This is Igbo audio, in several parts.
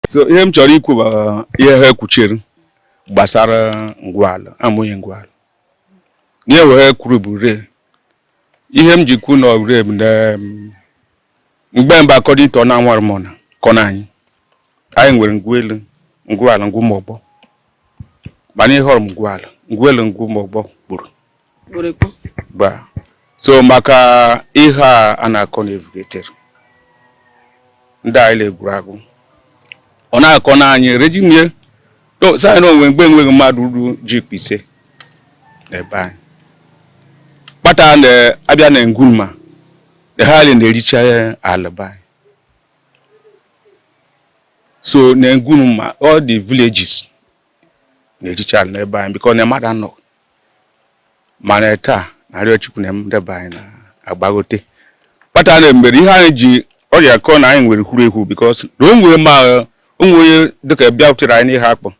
so ihe m chọrọ ikwu bụ uh, ihe ha ekwuchiri gbasara ngwuala amụghị ngwuala ihe wee kwuru bụ re ihe m ji kwu na re m na um, mgbe mba akọ dị ịtọ na anwara m na kọ na anyị anyị nwere ngwu elu ngwuala ngwu ụmụ ogbo mana ihe họrọ m ngwuala ngwu elu ngwu ụmụ ogbo gba so maka ihe a a na-akọ na evugeter ndị anyị na-egwuru agwụ ọ na-akọ na anyị rejimie sị na o nwe mgbe enweghị mmadụ ruru jip ise n'ebe anyị kpata na-abịa na ngwu ma eha ala na-ericha ala be anyị so na ngwu ma all the villages na-ericha ala n'ebe anyị because na mmadụ anọ mana taa narịọ chukwu na nde be anyị na-agbagote kpata na mere ihe anyị ji ọrịa kọọ na anyị nwere wuru ewu because na o nwere ma onwe onye dịka bịa butere anyị n'iheakpụ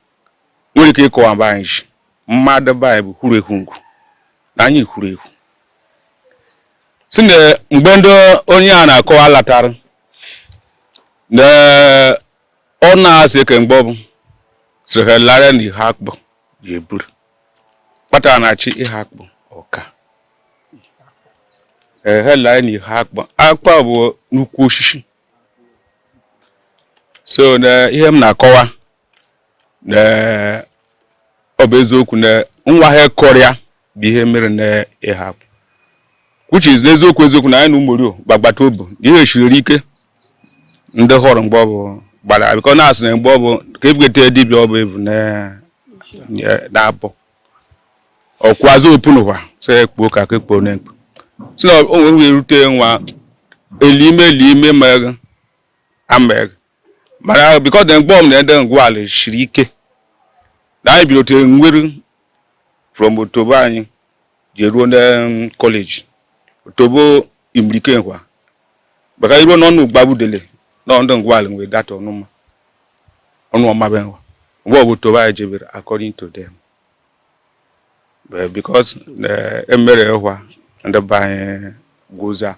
nwere ike ịkọwa be anyị sị mmadụ be anyị bụ wuru ewu ngwu na anyị wuru ewu si na mgbe ndị onye a na-akọwa latara na ọ na-asị eke mgbe ọbụ sịrịlara na iheakpụ ji eburu kpatara na chi iheakpụ ọka ehelaa na iheakpụ akpụ bụ nnukwu osisi so na ihe m na-akọwa na ọ bụ eziokwu na nwa ha kọrịa bụ ihe mere na iheakpụ which is n'eziokwu eziokwu na anyị na ụmụrio gbagbata obu na ihe shiriri ike ndị hụrụ mgbe ọ bụ gbara because na-asị na mgbe ọ bụ ka ebugete dibịa ọ bụ evu na-abụ ọkwazụ opu n'iheakpụ ọka ka ekpuo na-ekpu si na onwe wee rute nwa elime elime ma ama mana because dem kpọọ m na nde ngwuala siri ike na anyị bidotere nwere from otobo anyị ji ruo na college otobo imirike nkwa maka iruo n'ọnụ ugbabudele na ndị ngwuala nwere data ọnụma ọnụ ọmabe nkwa mgbe ọ bụ otobo anyị jebere according to them because eh, emere ịhwa ndị be anyị gwụza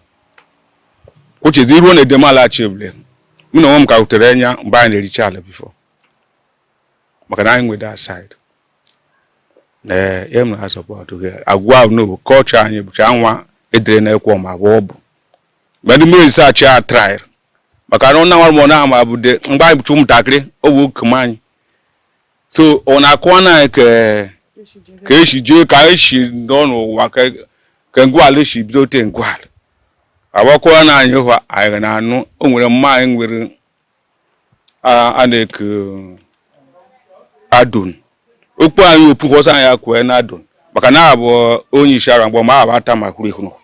ochezi iruo na edem ala achịble mụ na onwe m ka wutere anya mgbe anyị na-ericha ala before maka na anyị nwe the side ee eh, ya mere asọpọtụ gị agwa ahụ n'obo culture anyị bụcha nwa edere na ekwo ma bụ ọ bụ mgbe ndị mmiri sachi a trail maka na ọ na-anwara m ọ na-ama abụde mgbe anyị bụcha ụmụntakịrị ọ bụ oke m anyị so ọ na-akụwa na ka ka esi jee ka esi nọ n'ụwa ka ngwala si bido te ngwala agbakwa na anyị hụ anyị na-anụ o nwere mma anyị nwere a na-eke adon okwu anyị opu kwọsa anyị akwee na adon maka na abụ onye isi ara mgbe ma abụ atama kwuru ekwu n'ụwa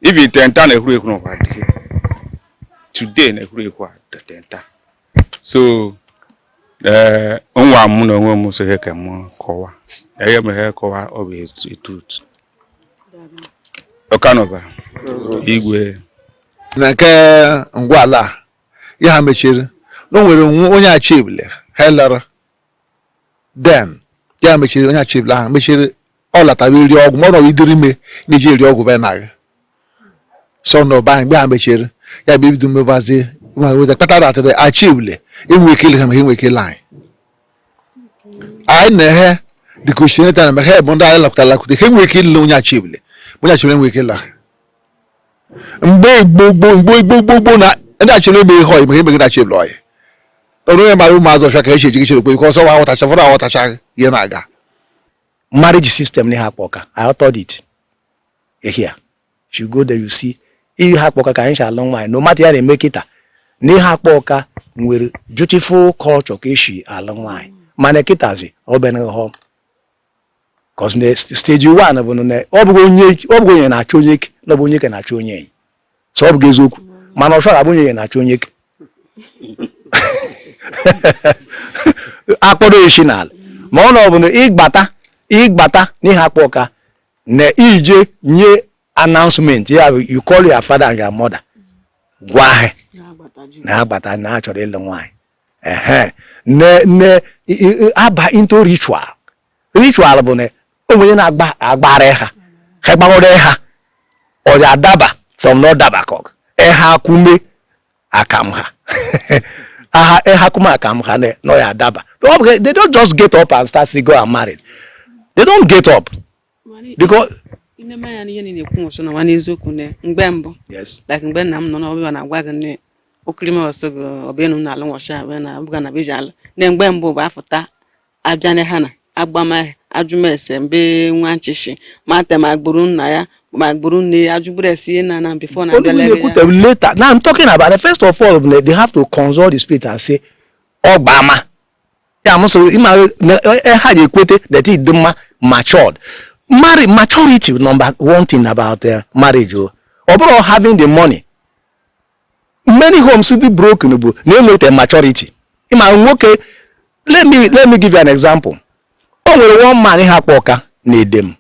even tenta na ekwuru ekwu n'ụwa today na ekwuru ekwu tenta so ee nwa m na onwe m so ihe ka m kọwa ihe m ihe kọwa ọ bụ the truth ọkanọba igwe na nke ngwala a, ya ha mechiri na o nwere nwa- onye achịbile helara then ya mechiri onye achịbile ahụ mechiri ọ latara iri ọgwụ ma ọ nọrọ idiri ime na-eji eri ọgwụ be naghị sọ na ụba anyị mgbe ha mechiri ya bụ ibido mmebazi nweta kpatara atịrị achịwule enwe ike ile ha ma ha enwe ike ile anyị anyị na-ehe dịka osineta na mgbe ha bụ ndị anyị lakwụta lakwụta ha enwe ike ile onye achịwule onye achịwule enwe ike ile ha mgbe igbo gboo mgbe igbo gboo gboo na ndị achịwule eme ihe ọyị ma ha emeghị na achịwule ọyị ọrụ onye mara ụmụazụ ọfịa ka echi eji gị chere kwe ka ọsọ wa aghọtacha fọrọ aghọtacha ihe na-aga marriage system na Iheakpu Awka I authored it ehia you go there you see Iheakpu Awka ka anyị si alụ nwaanyị no matter ihe na-eme kịta na Iheakpu Awka nwere beautiful culture ka esi alụ nwaanyị mana kịtazi ọ bịara hụ cos na stage one bụ na ọ bụghị onyenye na-achọ onyeke na ọ bụ onyeke na-achọ onyenye so ọ bụghị eziokwu mana ọsọ abụ onyenye na-achọ onyeke akpọrọ isi n'ala ma ọ na ọ bụ na ịgbata ịgbata n'Iheakpu Awka na ị je nye announcement ya bụ you call your father and your mother gwa ha na agbata na achọrọ ịlụ nwaanyị ehe na aba into ritual ritual bụ na o nwe onye na-agba agbara ha ha gbaghọrọ ha ọ ya adaba from na ọdaba ka ọ ha kume akam ha aha ha kume akam ha na ya adaba they don't just get up and start to go and marry they don't get up because nne anya n'ihe niile ekwu nwụsụ n'ụwa n'eziokwu na mgbe mbụ like mgbe nna m nọ n'ọbịa na-agwa gị nne okirime ọsọ gị ọbịa enu na-alụ nwọcha abịa na abụga na beji alụ na mgbe mbụ bụ afụta a bịa na ha na-agbama ajụmese mbe nwa nchịchị mata ma agbụrụ nna ya ma agbụrụ nne ya ajụgburu esi ihe na na before na Only abịalere when they ya put them later. Now I'm talking about the first of all, they they have to consult the spirit and say, ọ gbama. Yeah, I'm sorry, ima ha dey ekwete na ị dị mma matured. Marry maturity number one thing about uh, marriage o. Ọ bụrọ having the money. many homes dị broken bụ na enweta maturity ịma nwoke let me let me give you an example o nwere one man ha kpọ ọka na edem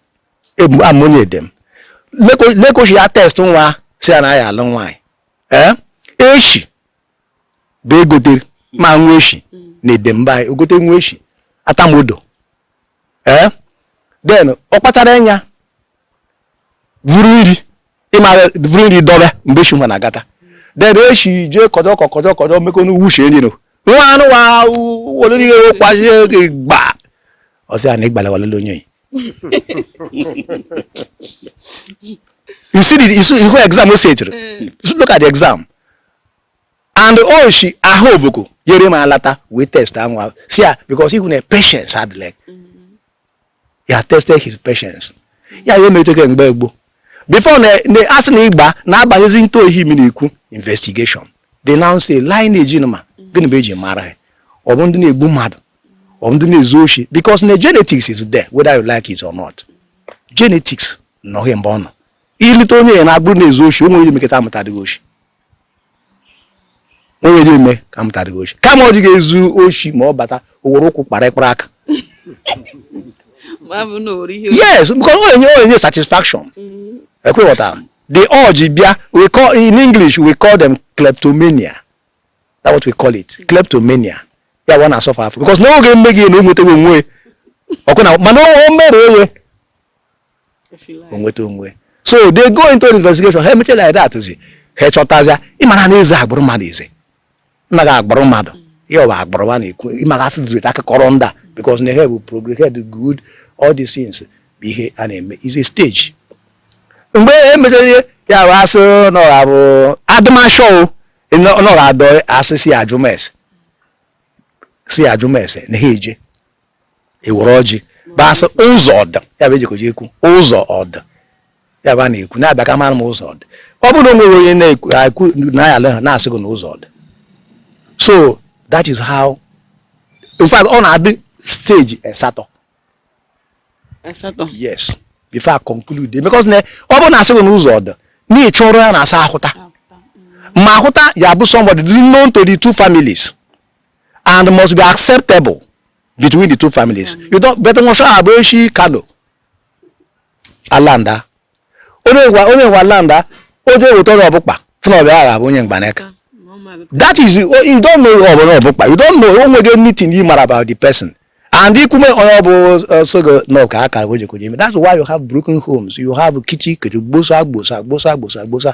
amụnye edem lekochi ya test nwa sị ya na ya alụ nwaanyị ee eh? eshi bụ egotere ma nwa eshi na edem mba anyị ogote nwa eshi atamodo ee eh? then ọ kpachara anya vuru nri ịmara bụrụ nri dọba mgbe eshi nwa na-agata then eshi jee kọjọ kọjọ kọjọ mekọ n'uwu uche nri no nwa anụ nwa wolori ihe okwazi oge gba ọsị a na ịgbala walele onye you see the you see who exam o setiri look at the exam and o shi oh, ahụ oboko yere m alata wee test anwa si ya because ịhụ na patience adịla he has tested his patience ya ya emetụghị mgbe gboo before na asị na ịgba na-abanyezi into ihe m na-ekwu investigation they now say lineage ma gịnị bụ eji mara ya ọ bụ ndị na-egbu mmadụ ọ bụ ndị na-ezu oshi because na genetics is there whether you like it or not genetics nọ mgbe ọ nọ ị lụte onye ya na agbụrụ na-ezu oshi o nwere ihe mekọta amụta adịghị oshi onye ji eme ka mụta adịghị oshi kama ọ dịghị ezu oshi ma ọ bata o were ụkwụ kpara ịkpara aka yes because ọ na-enye ọ na-enye satisfaction mm-hmm. ekwe ghọtara the urge bịa we call in english we call them kleptomania that's what we call it mm-hmm. kleptomania ya wa na-asọfa afọ because n'oge emeghị na o nwetaghị onwe ọkụ na mana o mere onye o nweta onwe so they go into investigation ha emeche like that zi ha chọtazịa ịmara na ezi agbụrụ mmadụ ezi nna gị agbụrụ mmadụ ya bụ agbụrụ ma na-ekwu ịmara afọ dịrị akụkọrọ ndị a because na ha bụ progress ha dị good all these things bụ ihe a na-eme is a stage mgbe e mechara ihe ya bụ asụ na ọha bụ adịmashọ nọrọ adọ asụ si ajụma ese ajụma ese na ha eje ewere ọjị basị ụzọ ọdụ ya bụ eji ọjị ekwu ụzọ ọdụ ya bụ a na-ekwu na-abịa ka mara m ụzọ ọdụ ọ bụrụ na o nwere onye na-ekwu na ya ha na-asị gị na ụzọ ọdụ so that is how in fact ọ na-adị stage asatọ asatọ yes before I conclude because na ọ bụrụ na asị gị na ụzọ ọdụ na ị chọrọ ya na-asa ahụta ma ahụta ya bụ somebody dị known to the two families and must be acceptable between the two families you don't weta nwa sọ abụ echi kano alanda onye ngwa onye ngwa alanda o jee weta ọrụ ọbụkpa fụna ọ bịa agha bụ onye mgbanaka that is oh, you don't know ọ bụla ọbụkpa you don't know o nweghị anything you mara about the person and ikume onye ọ bụ uh, sogo nọ ka akara o jekwara ime that's why you have broken homes you have kichi kiri gbosa gbosa gbosa gbosa gbosa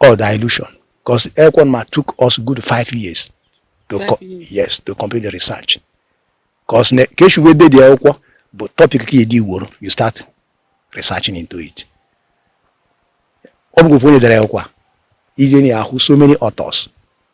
or dilution because ekwụkwọ nwa took us good five years to five years. yes to complete the research because ka esi wee dede akwụkwọ bụ topic ka edi iworo you start researching into it ọ bụghị ofu onye dere akwụkwọ a i je na-ahụ so many authors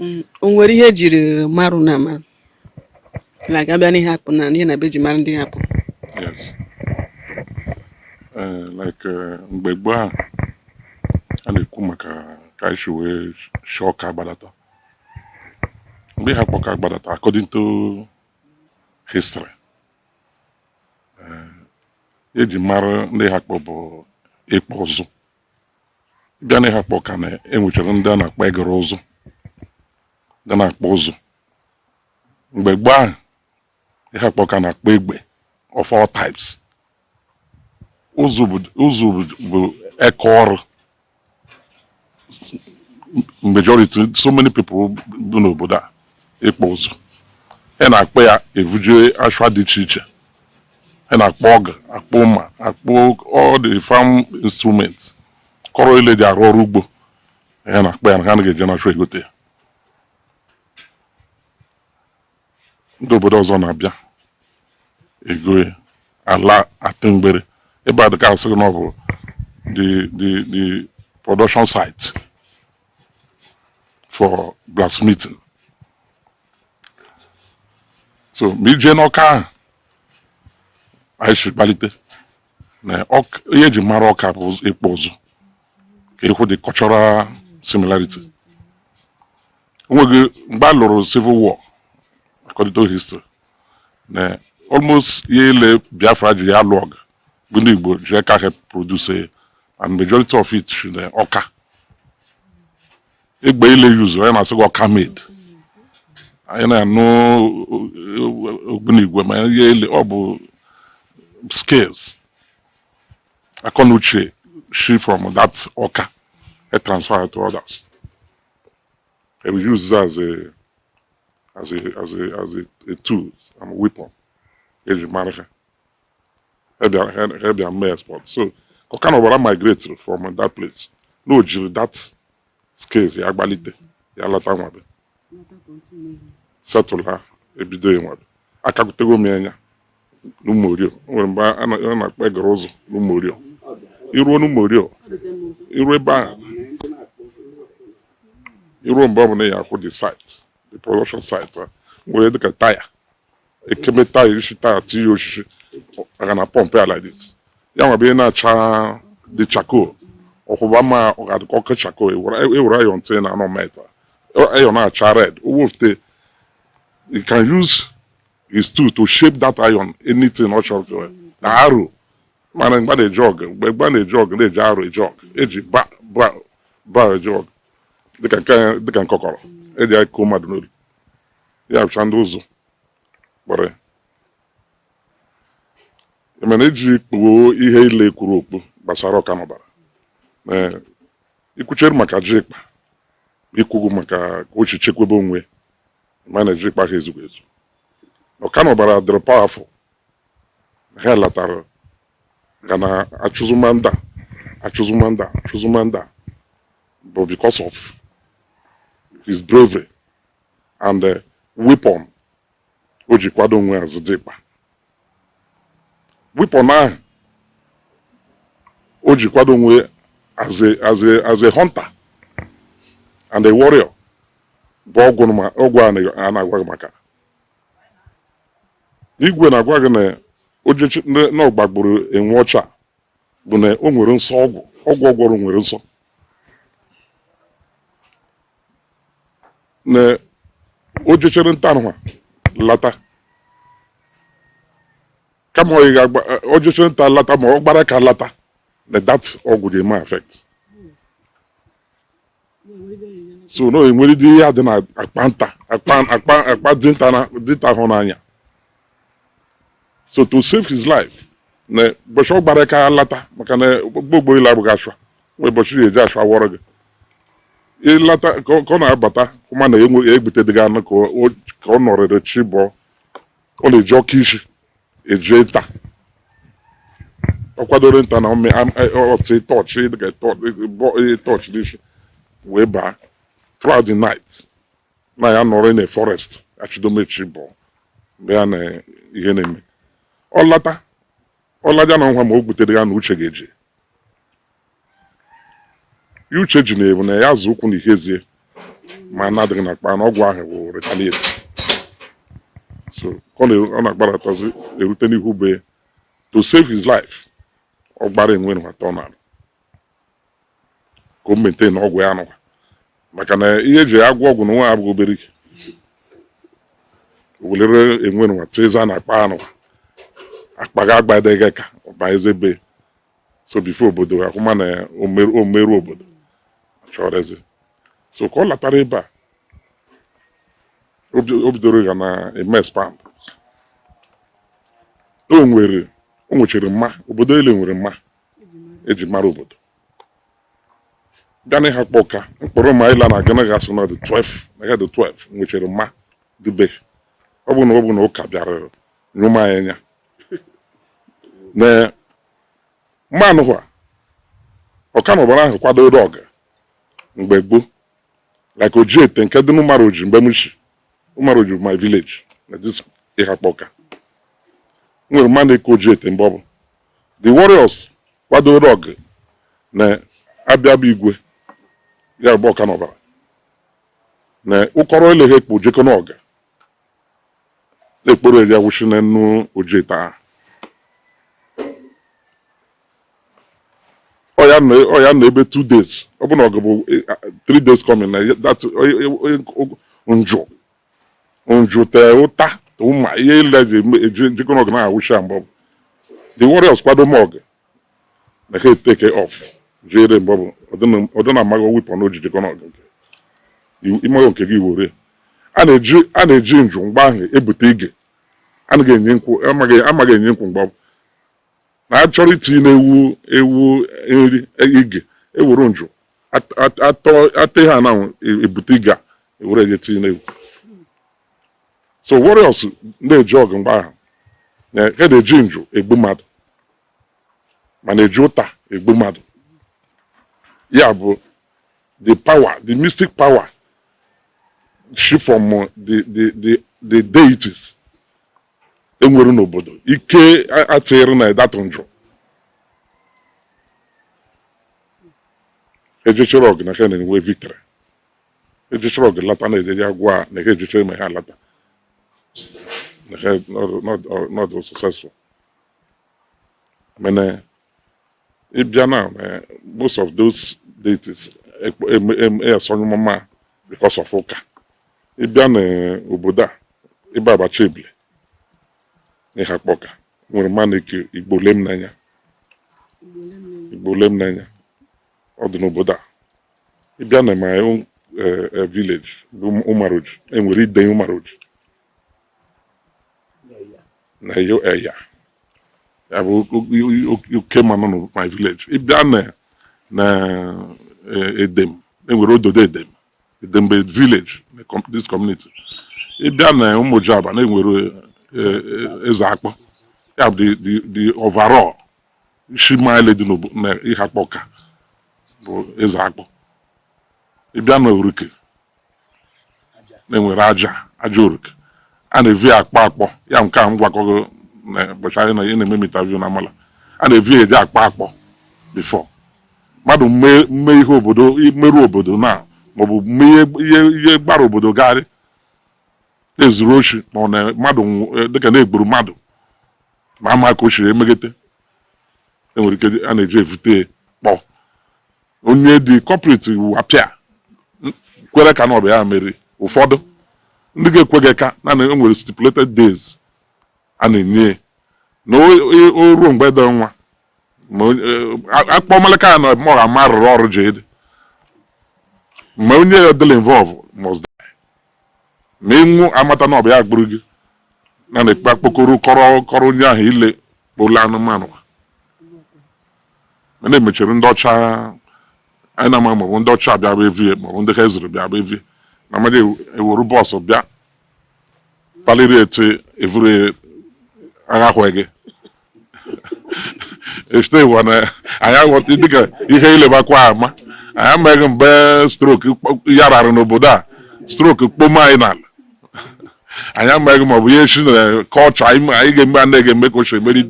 Mm, o nwere ihe ejiri marụ na amarụ like a bịa n'Iheakpụ na ihe na bụ e ji mara ndị Iheakpụ Yes. Eh, like eh, mgbe gboo ahụ a na-ekwu maka ka anyị si wee shi Ọka gbadata mgbe Iheakpụ Ọka gbadata according to history ihe eji mara ndị Iheakpụ bụ ịkpụ ụzụ bịa na Iheakpụ Ọka na e nwechara ndị a na-akpọ eguru ụzụ ndị na-akpụ ụzụ mgbe gboo ahụ Iheakpụ Ọka na-akpụ egbe of all types ụzụ bụ eka ọrụ majority so many people bụ n'obodo a ịkpụ ụzụ ha na-akpụ ya e vuje ashwa dị iche iche ha na-akpụ ọgụ akpụ mma akpụ all the farm instruments akọrọ ile e ji arụ ọrụ ugbo ha na-akpụ ya na ha na-eje na ashwa egote ya ndị obodo ọzọ na-abịa ego ala atụ mgbere ebe a dịka a sị gị na ọ bụ the the the production site for blacksmithing so ma i jee n'Ọka ahụ anyị si gbalite na ihe eji mara Ọka bụ ịkpụ ụzụ ka ị hụ the cultural similarity onweghị mgbe a lụrụ civil war according to history na almost ihe ile Biafra ji lụọ ọgụ bụ ndị Igbo ji aka ha produce and majority of it shi na Ọka egbe ile e use anyị na-asị gị Ọka made anyị na-anụ ogbunigwe ma ihe ile ọ bụ skills akọ na uche shi from that Ọka e transfer to others e use ya as a as a as a as a, a tool and a weapon eji mara ha ha bịa mee export so Ọka nwa Ọbara migrate from that place na o jiri that skills ya gbalite ya lata nwabe settle ebido ya nwabe akagutego m anya n'ụmụorio nwere ebe a na-akpọ eguru ụzụ n'ụmụorio i ruo n'ụmụorio i ruo ebe ahụ i ruo mgbe ọ bụla ya akwụ the site the production site nwere dịka taya ekemeta irishi taa tinye osisi a ga na-apọmpụ ya like this ya nwa bụ ị na-acha the charcoal ọkwụba ma ọ ga-adịkọ ọkụ charcoal e were iron tinye na anọ meta iron na-acha red o wefute he can use his tool to shape that iron anything ọ chọrọ to na aro mana mgbe a na-eje ọgụ mgbe mgbe a na-eje ọgụ na-eji aro eje ọgụ eji ba ba ba eje ọgụ dịka nke dịka nkọkọrọ eji akọ mmadụ n'olu ya bụcha ndị ụzụ kpụrụ ya mana eji kpuo ihe ile e kwuru okpu gbasara ọka n'ọbara ikwuchere maka jikpa ikwugwu maka ka o chekwebe onwe ma na jikpa ha ezugu ezu ọka n'ọbara dịrị powerful ha latara ga na achụzụmanda achụzụmanda achụzụmanda bụ because of his bravery and eh, weapon o ji kwado onwe ya ọzọ dịkpa weapon ahụ o ji kwado onwe as a as a as a hunter and a warrior bụ ọgwụ ma ọgwụ a na- a na-agwa gị maka igwe na-agwa gị na ojechi na ọ gbagburu enwe ọcha bụ na o nwere nsọ ọgwụ ọgwụ ọ gwọrọ nwere nsọ na o jechere nta nụwa lata kama ọ ga o jechere nta lata ma ọ gbara aka lata na that ọgwụ ga-eme affect so na e nwere dị ihe dị na akpa nta akpa akpa akpa dinta na dinta hụ n'anya so to save his life na ụbọchị ọ gbara aka lata maka na gbogbo ile abụghị ashwa nwee ụbọchị na-eje ashwa wọrọ gị ị lata ka ọ na-abata hụ ma na egbutedịgị anụ ka ọ nọrịrị chi bọọ ọ na-eji ọkụ isi eje nta ọ kwadoro nta na ọ tii torch dịka torch n'isi wee baa throughout the night na ya nọrọ na forest achido ma chi bọọ mgbe ya na ihe na-eme ọ lata ọ laja nụwa ma o gbutedịgị anụ uche ga-eje ihe uche ji na-ebu na ya zọ ụkwụ na ihu ezi e ma anụ adịghị na akpa na ọgwụ ahụ bụ retaliate so ọ na- ọ na-agbaratazi erute n'ihu be ya. to save his life ọ gbara enwe nụwa tọ na ka o maintain ọgwụ ya nụwa maka na ihe eji agwọ ọgwụ nụwa abụghị obere ike o welere enwe nụwa tiza na akpa nụwa akpa ga agbadegị aka ọ bazie be so before obodo akwụma na omeru obodo chọrọzi so ka ọ latara ebe a o bidoro ya na eme expand o nwere o nwechiri mma obodo ele nwere mma eji mara obodo bịa na Ihakpụ Ọka mkpọrọ ma ịla na agana ga asụ na the 12 na ya the 12 nwechiri mma dube ọ bụ na ọ bụ na ụka bịara nyụma anya na mma nwa ọka na ọbara ahụ kwadoro ọgụ mgbe gboo like ojiete nke dị n'ụmaroji mgbe m si ụmaroji my village na this Ihakpụ Ọka nwere mma na-eku ojiete mgbe ọ bụ the warriors kwadoro ọgụ na abịa bụ igwe ya bụ ọka na ọbara na ụkọrọ eleghị ekpo jekọ n'ọgụ ekporo eji awụchi n'enu ojiete ahụ ọ ya nọ ebe two days ọ bụ na ọ gụbụ e, three days coming na njụ njụ tee ụta ụma ihe ile eji ejekọ n'ọgụ na-awụchi ya mgbe ọ bụ the warriors kwadoro ọgụ na ha e take off jere mgbe ọ bụ ọdị na amaghị weapon o ji ejekọ n'ọgụ nke ịmaghị nke gị were a na-eji njụ mgbe ahụ ebute ige anaghị enye nkwụ amaghị enye nkwụ mgbe ọ bụ na achọrọ itinye na-ewu ewu nri e, ige ewuru njụ atọ ihe ananwụ ebute ige a ewere eje tinye na-ewu so warriors na-eje ọgụ mgbe ahụ e na-eji njụ egbu mmadụ ma na-eji ụta egbu mmadụ ya bụ the power the mystic power shi from the the the the deities enwere n'obodo ike atịrị na ịdatụ njụ ejechara ọgụ na ka na-enwe victory ejechara ọgụ lata na-ejeji agwa a na ha ejecha ime ha lata na ha nọdụ successful mana ịbịa na eh, most of those deities esonyụmụma because of ụka ịbịa n'obodo eh, a ịba abacha ebe ile na Ihakpụ Ọka nwere mma na-eku igbo lem n'anya igbo lem n'anya ọ dị n'obodo a ị bịa na my own eh, eh, village bụ ụmaroji enwere ide ụmaroji na eyo eya ya bụ o- o- o- oke mma nọ na my village ị bịa na na eh, edem enwere ododo edem edem bụ village na com- this community ị bịa na ụmụjaba na enwere eh, eh, eze akpọ ya bụ the- the the overall isi ma ile dị n'Ihakpụ ka bụ eze akpọ ị bịa na Oruk na e nwere aja aja Oruk a na-evi akpọ akpọ ya nke a m gwakọ gị na ụbọchị anyị na ihe na-eme m interview na amala a na-evi eji akpọ akpọ before mmadụ mme ihe obodo mmerụ obodo na maọbụ mme ihe gbara obodo gharịị na e zuru oshi ma ọ na mmadụ e, dịka na e gburu mmadụ ma ama ka o siri emegete enwere ike a na-eji evute akpọ onye dị culprit appear kwere eka na ọ bụ ya mere ụfọdụ ndị ga-ekweghị eka naanị enwere stipulated days a na-enye na o ruo mgbe dị nwa eh, akpọ malaka ya na ọ ga-ama rụrụ ọrụ jide ma onye ya dịla involve must ma ị nwụọ amata na ọ bụ ya gburu gị na na-ekpe akpokoro kọrọ kọrọ onye ahụ ile kpụla anụmanụ a na-emechiri ndị ọcha anyị na-ama maọbụ ndị ọcha bịa bụ evie maọbụ ndị ka ezuru bịa bụ evie na mmadụ ewere bus bịa paliri eti evuru agha ahụ gị echeta ịwa na anyị aghọta dịka ihe ilebakwa ama anyị amaghị mgbe stroke ya rara n'obodo a stroke kpom anyị n'ala anyị amaghị ma ọ bụ ihe echi na culture anyị ga-eme anaghị ga-eme ka ochie meri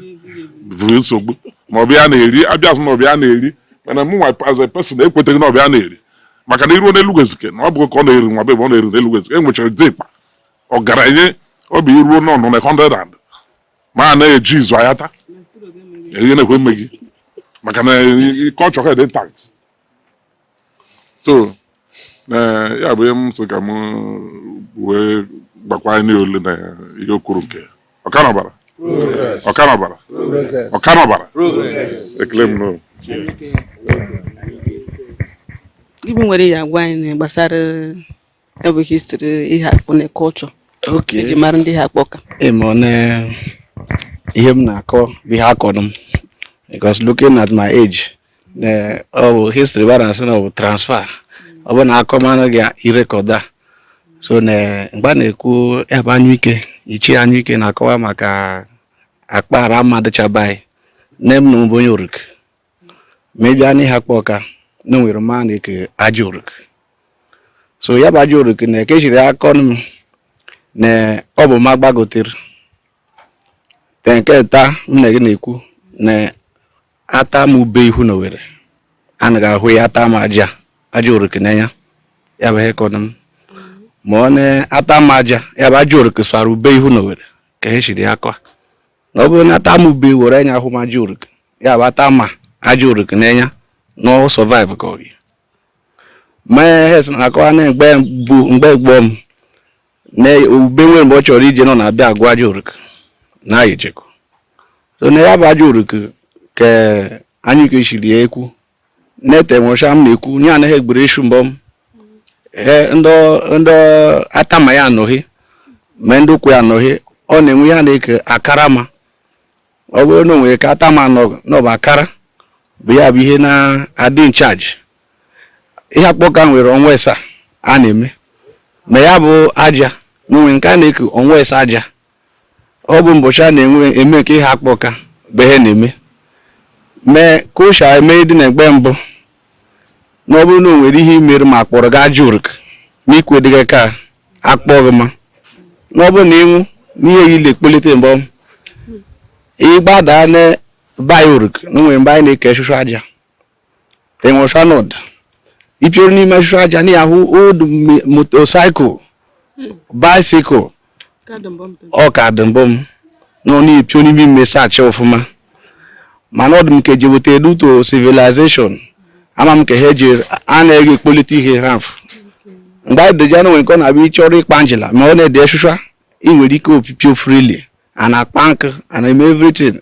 bụ nsogbu ma ọ bụ ya na-eri abịa na ọ bụ ya na-eri mana m nwa as a person ekweteghị na ọ bụ ya na-eri maka na i ruo n'Elu Ezike na ọ bụghị ka ọ na-eri nwa bebe ọ na-eri n'Elu Ezike e nwechara dị ịkpa ọgaranya ọ bụ i ruo n'ọnụ na 100 and ma a na-eji izu ayata ihe na-ekwe mme gị maka na culture ha dị tax so ya bụ ihe m so ka m wee gbakwa anyị ole na ihe okoro nke ọkanọbara ọkanọbara ọkanọbara ekele m n'ụlọ ibu nwere ya agwa anyị gbasara ya bụ history Iheakpụ na culture eji mara ndị Ihakpụ ka ihe m na-akọ bụ ihe akọrọ m because looking at my age ọ bụ history ba na-asị na ọ bụ transfer ọ bụ na akọ mara gị i record ya so na mgbe a na-ekwu ebe anyụike ichie anyụike na-akọwa maka akpara ma dịcha be anyị nne m na ọ bụ onye Oruk ma ị bịa n'Iheakpụ Ọka na o nwere ma a na-eke aja oruk so ya bụ aja oruk na ka e shiri ya kọnụ m na ọ bụ ma agbagotere te nke ta m na gị na-ekwu na atama ube ihu na owere anaghị ahụ ya atama aja aja oruk n'anya ya bụ ihe akọnụ m ma ọ na atama aja ya bụ aja oruk sara ube ihu na owere ka e shiri ya akọ na ọ bụrụ na atama ube were enya hụ ma aja oruk ya bụ atama aja oruk n'enya na ọ survive ka ọ gị mee hes na akọwa na mgbe bụ mgbe gboo m na ube nwere mgbe ọ chọrọ ije nọ na-abịa agụ aja oruk na ayecheko so na ya bụ aja oruk ka anyị kechiri ya ekwu nete nwụcha m na-ekwu nye anaghị egburu isu mbọ m ndị atama ya anọghị ma ndị ụkwụ ya anọghị ọ na-enwe ya na-eke akara ma ọ bụrụ na o nwere ka atama n'ọbụ akara bụ ya bụ ihe na-adị in charge ihe akpọ ka nwere ọnwa ịsaa a na-eme ma ya bụ aja na o nwere nke a na-eke ọnwa ịsaa aja ọ bụ mbọchị a na-enwe eme nke ihe akpọ ka bụ ihe na-eme mee ka ụsha eme dị na egbe mbụ na ọ bụrụ na o nwere ihe i mere ma akpọrọ gị aja oruk ma i kwedịghị ka akpọ gị ma na ọ bụrụ na ị nwụ n'ihe ya ile kpolite mgbe ọ ịgbada na be anyị oruk na o nwere ebe anyị na-eke shụshụ aja enwe shanod ipioro n'ime shụshụ aja na ahụ old motorcycle bicycle ọ ka dị mbụ m na ọ na-epio n'ime ime saachị ọfụma mana ọ dị m ka eji weta due to civilization ama m ka ha eji a na-ege ekpolite ihe ha afụ mgbe anyị doji anụ nwere nke ọ na-abịa ị chọrọ ịkpa njela ma ọ na-ede ị nwere ike opipio freely a na-akpa nkụ a na-eme everything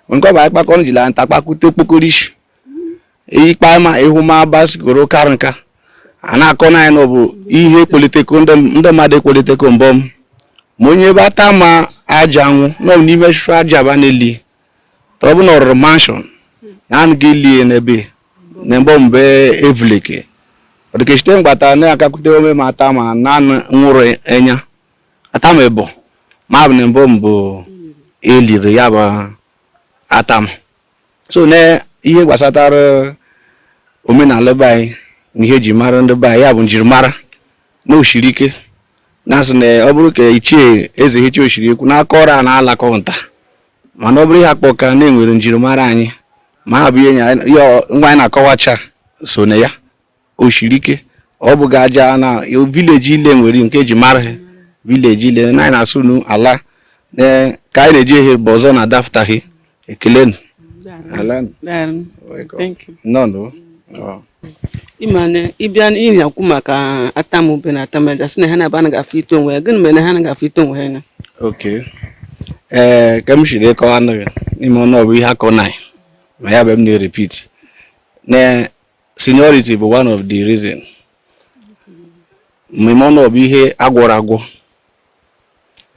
nke ọ bụ anyị kpakọrọ jiri anyị takpakwute okpokorishi ikpe ma ịhụ ma bicycle karị nka a na-akọ na anyị na ọ bụ ihe kpoliteko ndị mmadụ ekpoliteko mbọ m ma onye bụ atama aja anwụ na ọ bụ n'ime shụ aja ba na-eli ọ bụ na ọ rụrụ mansion na anụ gị lie n'ebe na mbọ mbe evuleke ọdịkechite mgbata na-akakwute ome ma atama na nwụrụ enya atama bụ ma bụ na mbụ mbụ eliri ya bụ atama so na ihe gbasatara omenala be anyị na ihe eji mara ndị be anyị ya bụ njirimara na o shiri ike na-asị na ọ bụrụ ka ichie eze hicha osiri ekwu n'aka ọrụ a na-alakọta mana ọ bụrụ ihe akpọ ka na-enwere njirimara anyị ma ha bụ ihe ngwa anyị na-akọwacha so na ya o shiri ike ọ bụ ga aja na village ile nwere nke eji mara ha village ile na anyị na-asụ nu ala ka anyị na-eji ehe bụ ọzọ na adaftaghị ekele nụ ịma na ị bịa ihe ekwu maka atama ube na atama aja si na ha na-aba na gafe ito onwe ya gịnị mere na ha na gafe ito onwe ha anya ee ka m siri kọwa nụ ya n'ime ọnụ ọbụ ihe akọ na ma ya bụ m na-erepeat na seniority bụ one of the reason mmemme ọnụ bụ ihe a gwọrọ agwọ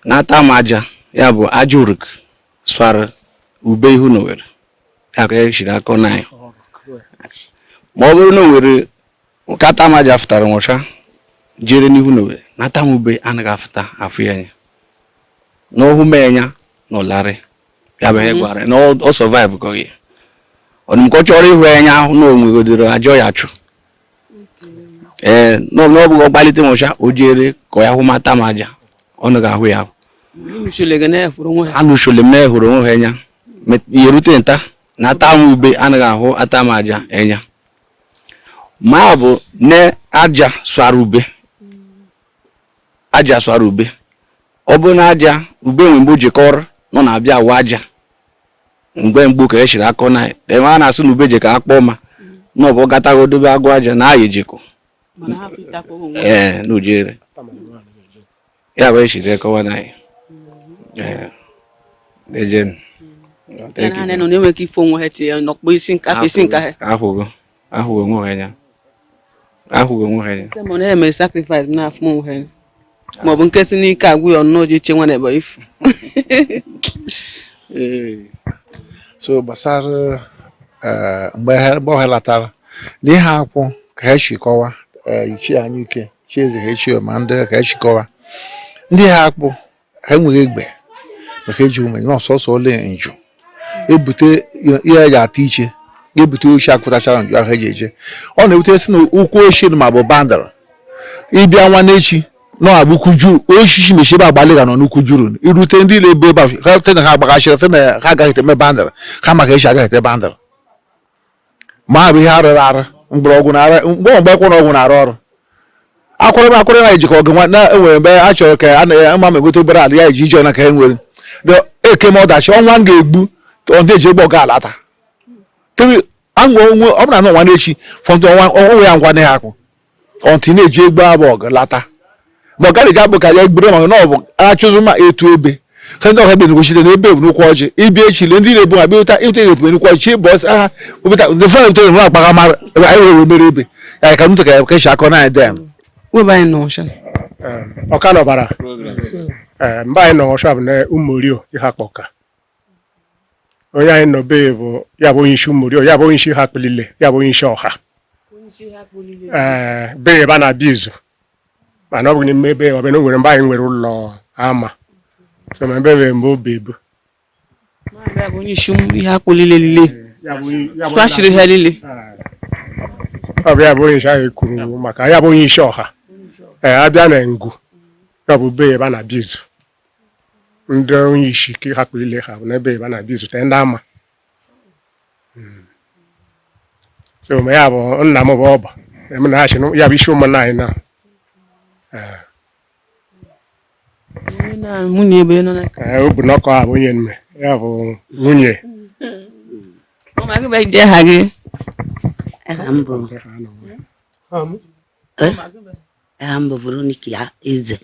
na Atama Aja ya bụ aja uruk swara ube ihu na owere ya ka e shiri akọ na anyị ma ọ bụrụ na o nwere nke Atama Aja fụtara nwụcha jere n'ihu na owere na Atama Ube anaghị afụta afụ ya anya n'ọhụ mee anya na ụlarị ya bụ ihe mhm. gwara na ọ survive ka oyi ọdụm ka ọ chọrọ ịhụ anya ahụ na onwe godoro ajọ ya chụ ee na ọ bụghị ọgbalite mụcha o jere ka ya hụma Atama Aja ọnụ ga-ahụ ya anụchole m na-ehụrụ onwe ha anya ihe rute nta na Atama Ube anaghị ahụ Atama Aja anya ma ọ bụ na aja swara ube aja swara ube ọ bụrụ na aja ube nwe mgbe o jekọrọ nọ na-abịa awa aja mgbe gboo ka e shiri akọ na ebe a na-asị na ube je ka a kpọọ ma na ọ bụ gatago dobe agwa aja na ya ejeko ee na o jere ya bụ e shiri akọwa na anyị ee ejen Thank you. Nọ na-enweghị ife onwe ha tinye n'ọkpụ isi nka afọ isi nka ha. Akwụgo. ahụghị onwe ha anya ahụghị onwe ha anya ma ọ na-eme sacrifice n'afọ onwe ha anya ma ọ bụ nke sị n'ike agwụ ya ọnụ oji nwa na-ebe ifu so gbasara eh, mgbe ọ helatara na ihe akwụ ka ha si kọwa eh, ichie anyị ike chi eze ha echie ma ndị ka ha si kọwa ndị ha akpọ ha enweghị egbe maka eji ume na ọsọsọ ole njụ ebute ihe eji ata iche ebute oche akụtachara njụ ahụ eji eje ọ na-ebute si na ụkwụ ochie ma bụ boundary ịbịa nwa n'echi na-abụ ukwu ujuru osisi mechie ebe agbalị ga nọ n'ukwu ujuru irute ndị na-ebu ebe ha site na ha agbaghachiri site na ha agaghị eme boundary ha maka echi agaghị ete boundary ma ọ bụ ihe a rụrụ arụ mgbọrọgwụ na ara mgbe mgbe akwụkwọ na ọgwụ na-arụ ọrụ akwụrụ m akwụrụ na ejikọ ọgụ nwa na-enwere mgbe a chọrọ ka a na ama m egote obere ala ya eji ije na ka e nwere The- eke m ọdachi ọnwa m ga-egbu ọ na-eji egbe ọ ga-alata tiri anwa onwe ọ bụrụ na ọnwa n'echi fọntụ ọnwa onwe ya ngwa na ya akwụ ọntị na-eji egbe abụ ọgụ lata ma ọ gaghị eji abụ ka ya egbere ma na ọ bụ achụzụ ma etu ebe ka ndị ọha ebe negochite na ebe ebunukwu ọjị ịbịa echi le ndị na-ebu ha bịa ụta ịta ihe ebube nukwu ọjị ịbụ ọsị aha ụbụta ndị fọlọ ntọ enwe akpaga mara ebe anyị were mere ebe ya ka ntụ ka ya ka e shi akọ na anyị dị ya webe anyị nọ ọsha ọka nọbara mgbe anyị nọ ọsha bụ na ụmụ orio ihe akpa ọka onye anyị nọ be bụ ya bụ onye isi Umurio ya bụ onye isi Iheakpu lile ya bụ onye isi ọha ee be ebe a na-abịa izu mana ọ bụ n'ime ebe ọbịa na o nwere mgbe anyị nwere ụlọ ama so ma ebe mgbe obi ebu ya bụ onye isi Iheakpu lile lile sụachiri ha lile ọ bụ ya bụ onye isi ahụ kwuru maka ya bụ onye isi ọha ee abịa na ngu ya bụ be ebe a na-abịa izu ndị onye isi ka Iheakpu ile ha bụ n'ebe ebe a na-abịa izute ndị ama hmm. so ma ya bụ nna m bụ ọba eme na achị ya bụ isi ụmụnna anyị na eh. nwunye ebe nọ n'aka eh, ọ bụ n'ọkọ a bụ onye nne ya bụ nwunye aha gị aha m bụ Veronica Eze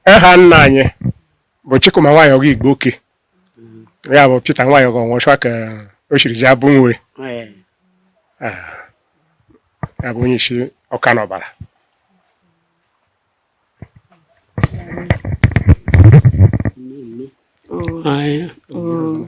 aha nna anyị bụ Chikuma nwa Ayogu Igboke ya bụ Peter nwa Ayogu ọnwụchwa ka o siri ji abụ nwe ya bụ onye isi ọka n'ọbara Aye. Oh.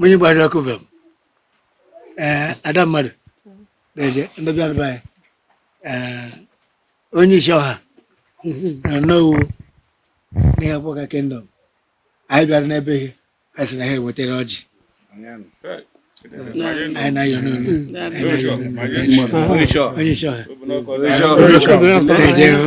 onye gbara ọkụ bụ eh, ada mmadụ na-eje ndị bịara be ya eh, onye isi ọha na nnowu n'Iheakpu Awka kingdom anyị bịara n'ebe ihe a sị na ha wetara ọjị anyị na-ayọ n'ọnụ onye isi ọha na-eje hụ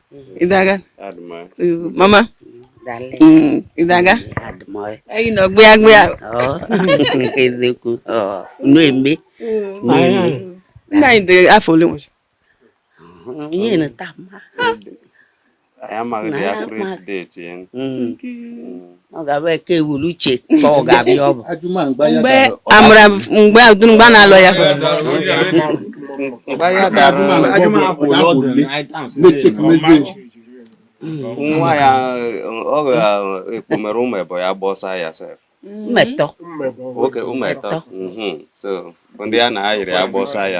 ịdaga mama ịdaga anyị nọ gbịa gbịa eziokwu na-eme nna anyị dị afọ ole nwere ihe na taa mma anyị amaghị ya akụrụ etideti ya ọ ga-abụ eke wuru uche ka ọ ga-abịa ọ bụ mgbe amara mgbe adụmgba na-alụ ya nwa ya ọ ga-ekpomere ụmụ ebo ya gbọsa ya sef mmetọ oke ụmụ etọ so ndị a na-ayịrị ya gbọsa ya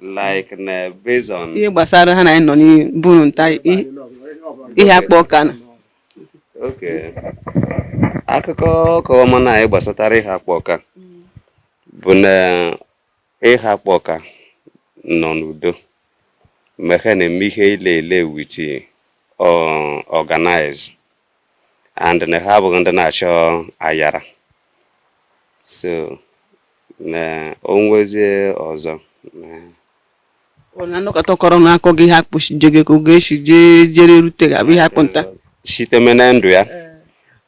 like na based on ihe gbasara ha na anyị nọ n'iburu nta Iheakpu Awka na okay akụkọ ọka ọma na anyị gbasatara Iheakpu Awka bụ na Iheakpu Awka nọ n'udo mgbe ha na-eme ihe ile ile with organize and na ha abụghị ndị na-achọ ayara so na onwezie ọzọ na nnọkọta kọrọ na akọ gị ha kpụchije gị ka oge esi jee jere rute ga-abụ ihe akpụta site na ndụ ya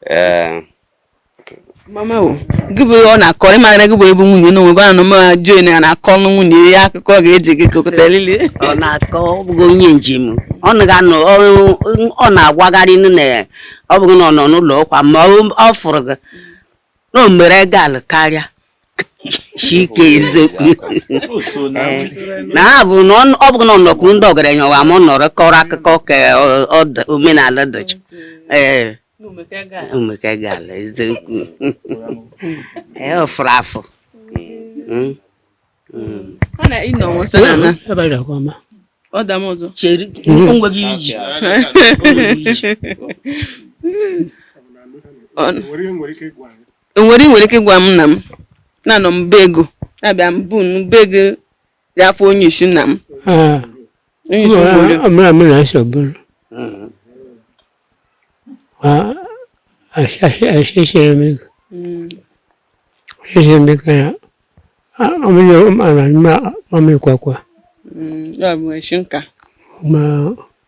ee eh. eh. mama o gị bụ ọ na-akọ ị mara gị bụ ebe nwunye na onwe gị ma jụọ na na-akọ ọnụ nwunye ya akụkọ ga-eji gị kokọta lili ọ na-akọ ọ bụghị onye njem ọ na-anọ ọ na-agwagharị na ọ bụghị na ọ nọ n'ụlọ ọkwa ma ọ fụrụ gị na o mere gal karịa chike eziokwu na ha bụ na ọ- ọ bụghị na ọ nọkwu ndị ọgaranya wa ma ọ nọrọ kọrọ akụkọ ka ọ- ọ dị- omenala dịcha ee omeka gala eziokwu ee ọ fụrụ afụ Mm. chere onweghị iji Ọ- Enwere ị nwere ike ịgwa m na m na-anọ m be ego na-abịa m bụ m be ego dị afọ onye isi nna m Ah, onye isi obodo ọ mara mụ na nsọ bụrụ ahịhịa m ego ahịhịa m ego ya ọmụnye ọmara mma ọmịkwakwa Mm, ya bụ esi nka ma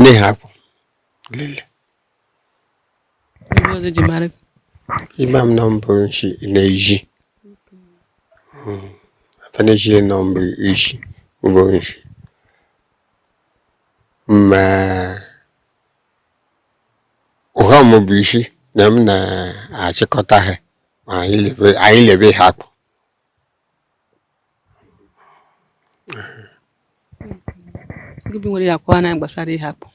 na Iheakpu lile ị ma m na m bụ nshi na-eji afaneji na m bụ isi ụgbọ nshi ma ụha m bụ isi na m na-achịkọta ha ma anyị lebe Iheakpu gị bụ nwere ya akọwa na gbasara Iheakpu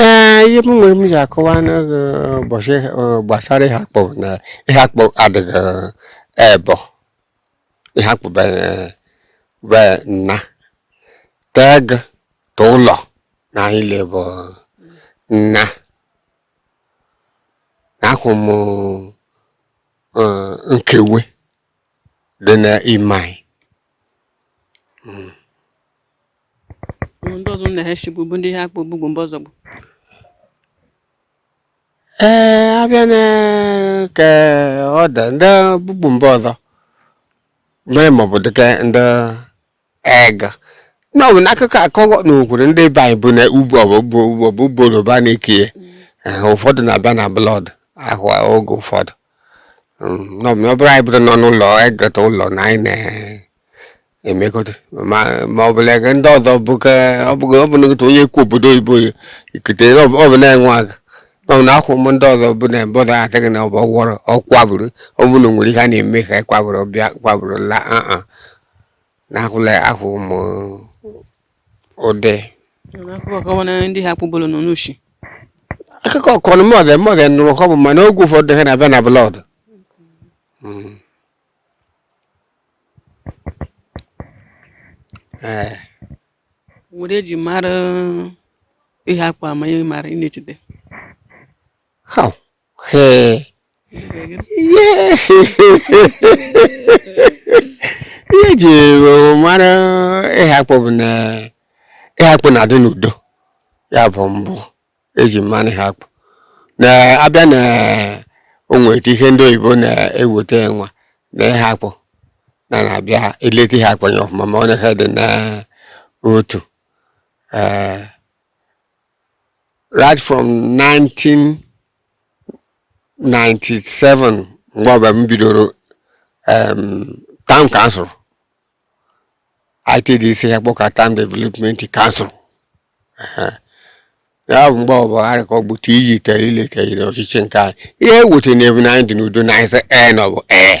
ee ihe m nwere m ja-akọwa n'ụbọchị gbasara Iheakpu na Iheakpu adịghị ebo Iheakpu be nna tee gị ta ụlọ na anyị lebụ nna na akwụ m eh, nkewe dị n'ime anyị hmm. ndị ọzọ na ha bụ ndị ha kpọ ogbugbo mba ọzọ bụ ee eh, abịa na ka ọ dị ndị ogbugbo mba ọzọ mere maọbụ dịka ndị ego n'ọbụ n'akụkọ akọghọ na okwuru ndị be anyị bụ na ugbo ọbụ ọbụ boro ba na-eke ụfọdụ na-abịa na blọd ahụ oge ụfọdụ Mm, n'ọbụ na ọ bụrụ anyị bụrụ nọ n'ụlọ egota ụlọ na anyị na-emekọta ma ma ọ bụla ego ndị ọzọ bụ ka ọ bụghị ọ bụ na otu onye kwu obodo oyibo ya ikete na ọ bụ ọ bụ na-enwe aka n'ọbụ na akwụ m ndị ọzọ bụ na ebe ọzọ adịghị na ọ bụ ọgwọrọ ọ kwaburu ọ bụ na o nwere ihe a na-eme ka anyị kwaburu bịa kwaburu la aa n'ahụla ahụ ụmụ ụdị akụkọ kọwa na ndị ha kpụbolo nọ n'ushi akụkọ kọrọ mọdụ mọdụ nụrụ ka ọ bụ mana oge ụfọdụ ha na-abịa na blọd ee nwere eji mara ịhakpụ ama ihe mara ị na-echeta ha ihe ji mara ịhakpụ bụ na ịhakpụ na-adị n'udo ya bụ mbụ eji mara ịhakpụ na abịa na onweta ihe ndị oyibo na-eweta nwa na ịhakpụ na na-abịa eleta ịhakpụ anya ọfụma ma ọ na ha dị na otu ee right from 1997 mgbe ọbụla m bidoro um, town council ITDC Ịhakpụ Awka town development council Ehe. ya bụ mgbe ọbụla ha ka ọ bụ ti iyi tere ile tere n'ọchịchị nke anyị ihe ewute na ebu na anyị dị n'udo na anyị sị ee na ọ bụ ee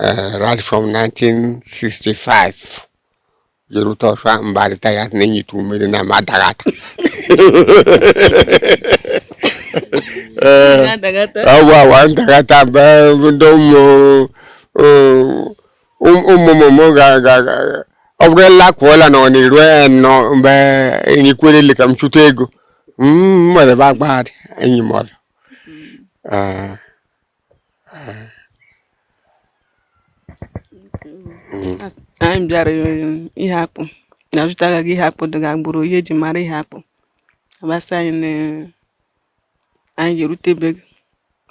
uh, right from 1965 jerute ọsọ mbarịta ya na enyitu mmiri na ma adaghata ọgwụ awa ndagata mgbe ndị ụmụ ụmụmụmụ ga-aga ọ bụrụ la kwụọla na ọ na-eru ya nọ mgbe enyi kwere ile ka m chụta ego mmadụ bụ agbagharị enyi m ọzọ anyị bịara ịhakpụ na zụtara gị ịhakpụ dịga gburu ihe eji mara ịhakpụ agbasa anyị na anyị ga-erute be gị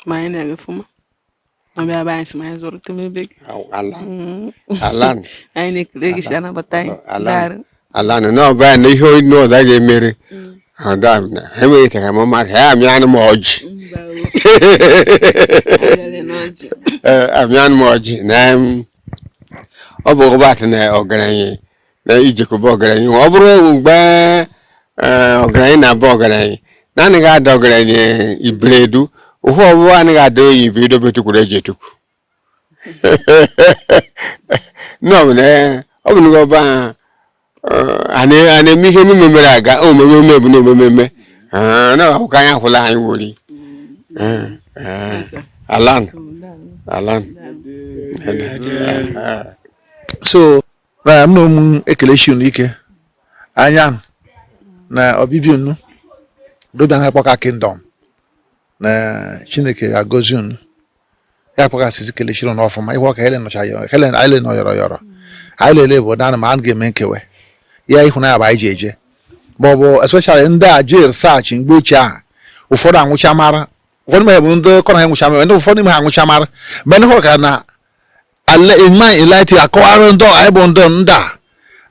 ma anyị na-aga ọfụma ma bịa be anyị si ma anyị zụrụte ebe gị mm. anyị na-ekele gị si anabata anyị ala nọ n'ọba ya na ihe onye ọzọ ga-emere ọda na ha enweghị ka ma mmadụ ha amị anụ m ọjị Ee, amị anụ m ọjị na em, ọ bụ ụbatị na ọgaranya na ijekobe ọgaranya ọ bụrụ mgbe ee, ọgaranya na-abụ ọgaranya na anaghị ada ọgaranya ibredu ụhụ ọbụwa anaghị ada oyi ibredu bụ etukwuru eji etukwu ọ bụ na ọba a na-eme ihe emume mere aga omume eme bụ na omume eme na akwụkwọ anyị akwụla anyị wori ala nụ ala nụ so na mụ na-ekeleshi unu ike anya na ọbịbịa unu dobịa na kpọka kingdom na chineke agọzi unu ya kpaghasịzi keleshiri unu ọfụma ihe ọka helen nọcha helen anyị le nọ yọrọ yọrọ anyị lele bụ na ma a ga-eme nkewe ya ịhụnanya bụ anyị ji eje ma ọ bụ especially ndị a ji research mgbe ochie ahụ ụfọdụ anwụcha mara ụfọdụ mgbe bụ ndị kọrọ ha nwụcha mara ndị ụfọdụ ime ha anwụcha mara mgbe ndị hụrụ ka na ma eliti akọwara ndị anyị bụ ndị ndị a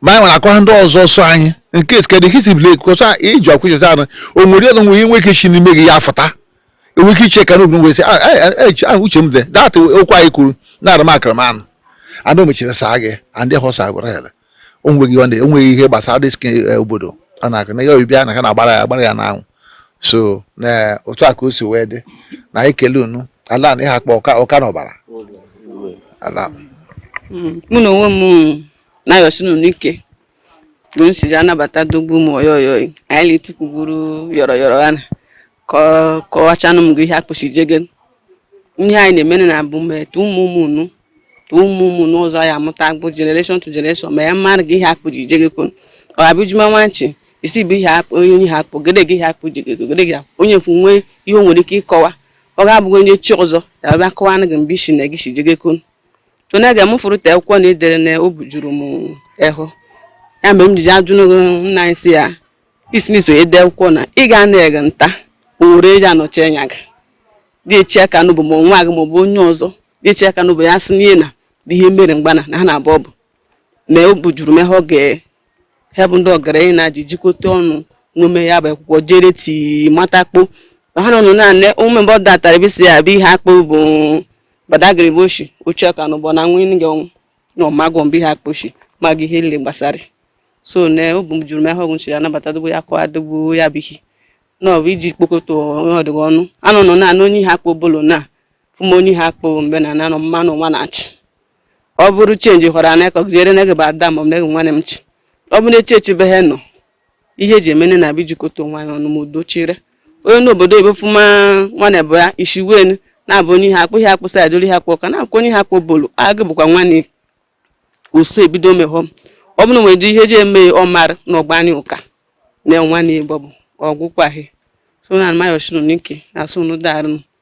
ma anyị nwere akọwara ndị ọzọ so anyị nke skedị hisi blek kosa iji akwụcheta anụ o nwere ọnụ nwere inwe ike shi n'ime gị ya fụta enwe ike iche ka n'obi wee sị ah, eh, eh, eh, ah, uche m dị that okwu anyị kwuru na-ara m akara m anụ anụ mechiri saa gị andị họsa gwara ya onweghị ọ na-enweghị ihe gbasara dị skin eh, obodo ọ na-akụ na ihe obibi a na ka na-agbara ya agbara ya n'anwụ so na eh, otu a ka o si wee dị na anyị kele unu ala na iheakpụ ọka na ọbara ala mm, mụ na onwe m na-ayọsi unu ike bụ m si ji anabata dogbu ụmụ oyoyoyi anyị na-etukwuburu yọrọ yọrọ ha na kọwachanụ m gị iheakpụ si jege ihe anyị na-emere na abụ mmetụ ụmụ ụmụ unu ụmụ ụmụ n'ụzọ ya amụta bụ generation to generation ma ya mmadụ gị iheakpụ ji je gị kwuru ọ abụ juma nwanchi isi bụ iheakpụ onye onye iheakpụ gede gị iheakpụ ji gị gede gị onye fụ nwee ihe o nwere ike ịkọwa ọ ga-abụghị onye chi ọzọ ya bịa kọwa na gị mgbe isi na gị si je gị kwuru to na ga-amụfụrụ te akwụkwọ na edere na o bujuru m ehụ ya mgbe m jiji ajụ nna anyị si ya isi n'iso ede akwụkwọ na ị ga na-ege ntị o nwere eji anọchi anya gị dị eche aka n'obu ma nwa gị ma ọ bụ onye ọzọ na-eche aka n'obu ya sị n'ihe na bụ ihe mere mgbana na ha na-abụ ọbụ mee o bujuru m ehụ oge ha bụ ndị ọgaranya na-aji jikọta ọnụ n'ome ya bụ akwụkwọ jere ti mata akpụ ma ha nọ naanị ụmụ mgbe ọ datara ebe si ya bụ iheakpụ bụ badagiri bụ oshi oche ọka na ụgbọ na nwa ịnị gị ọnwụ na ọmagwọ mbụ iheakpụ oshi ma gị ihe nile gbasara so na o bujuru m ehụ ọ bụ nchiri anabata dogbo ya kọwa dogbo ya bụ ihe na ọ bụ iji kpokọta onye ọdịghị ọnụ anọ nọ naanị onye iheakpụ obollo na fụma onye iheakpụ mbe na nanọ mmanụ nwa na-achị ọ bụrụ chenji hụrụ ana ka jere na gị bụ ada ma ọ bụ na gị nwanne m chi ọ bụ na-eche echebe ha nọ ihe eji emene na abịa ijikọta onwe anyị ọnụ ma udo chire onye n'obodo ebe fuma nwanne bụ ya isi wen na-abụ onye iheakpụ iheakpụ sa adịrị iheakpụ ọka na-akwụ onye iheakpụ obollo agụ bụkwa nwanne uso ebido mehọ ọ bụrụ nwere dị ihe eji eme ọmara na ọgba anyị ụka na nwanne igbo bụ ọgwụkwaghị so na m ayọshi unu ike asị unu darịnụ